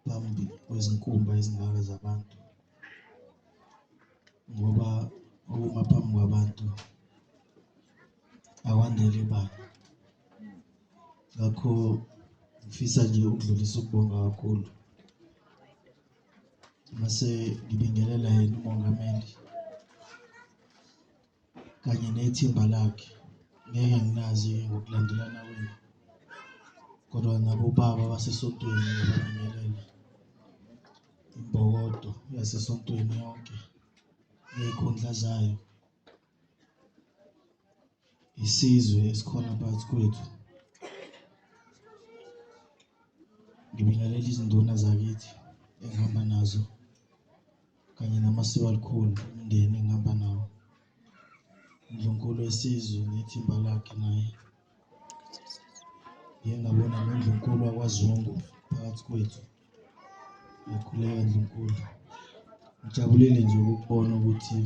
phambi kwezinkumba ezingaka zabantu ngoba ukuma phambi kwabantu awanele bani ngakho ngifisa nje ukudlulisa ukubonga kakhulu mase ngibingelela yena umongameli kanye nethimba lakhe ngeke nginazi ngokulandelana kwenu kodwa nabobaba basesontweni ngiyababingelela imbokodo yasesontweni yonke ney'khundla zayo isizwe esikhona phakathi kwethu ngibingelela izinduna zakithi engihamba nazo kanye namasiko alikhulu umndeni engihamba nawo ndlunkulu esizwe nethimba lakhe naye ngiye ngabona nondlunkulu wakwazungu phakathi kwethu yakhuleka ndlunkulu ngijabulile nje ukubona ukuthi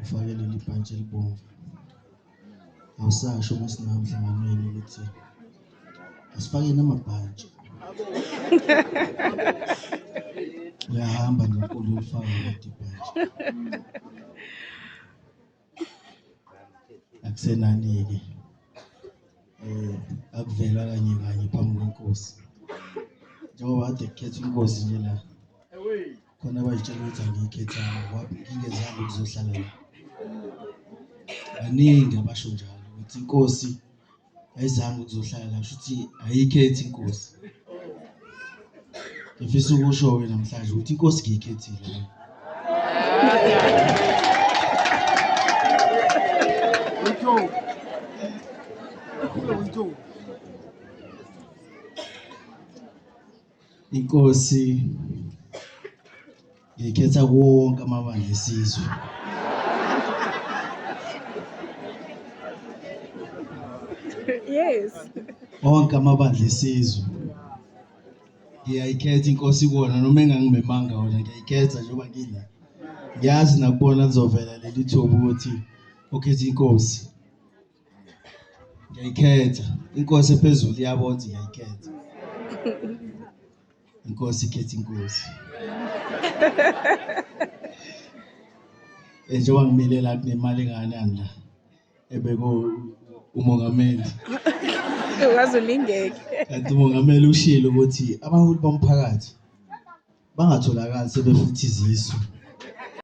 Ufake leli bhantshi elibomvu. Awusasho uma singamhlanganweni ukuthi asifake namabhantshi. Uyahamba nonkulu ufaka leli bhantshi. Akusenani-ke. Eh, akuvela kanye kanye phambi kwenkosi. Njengoba kade kukhethwa inkosi nje la. khona abazitshela ukuthi angiyikhethanga ngoba ngingezanga ukuzohlala la baningi abasho njalo ukuthi inkosi ayizange ukuzohlala la kusho ukuthi ayikhethi inkosi ngifisa ukusho-ke namhlanje ukuthi inkosi ngiyikhethile Inkosi ngikhetha konke amabandla esizwe. Yes. Onke amabandla esizwe. Ngiyayikhetha inkosi kuwona noma engangimemanga wona ngiyayikhetha njengoba ngila. Ngiyazi nakubona lizovela leli thuba ukuthi ukhethe inkosi. ngiyayikhetha inkosi ephezulu iyabona ukuthi ngiyayikhetha inkosi ikhetha inkosi eh, njengoba ngimile la kunemali engakanani la ebeko umongameli wazi ulingeke kanti umongameli ushilo ukuthi abaholi bomphakathi bangatholakali sebefuthi izisu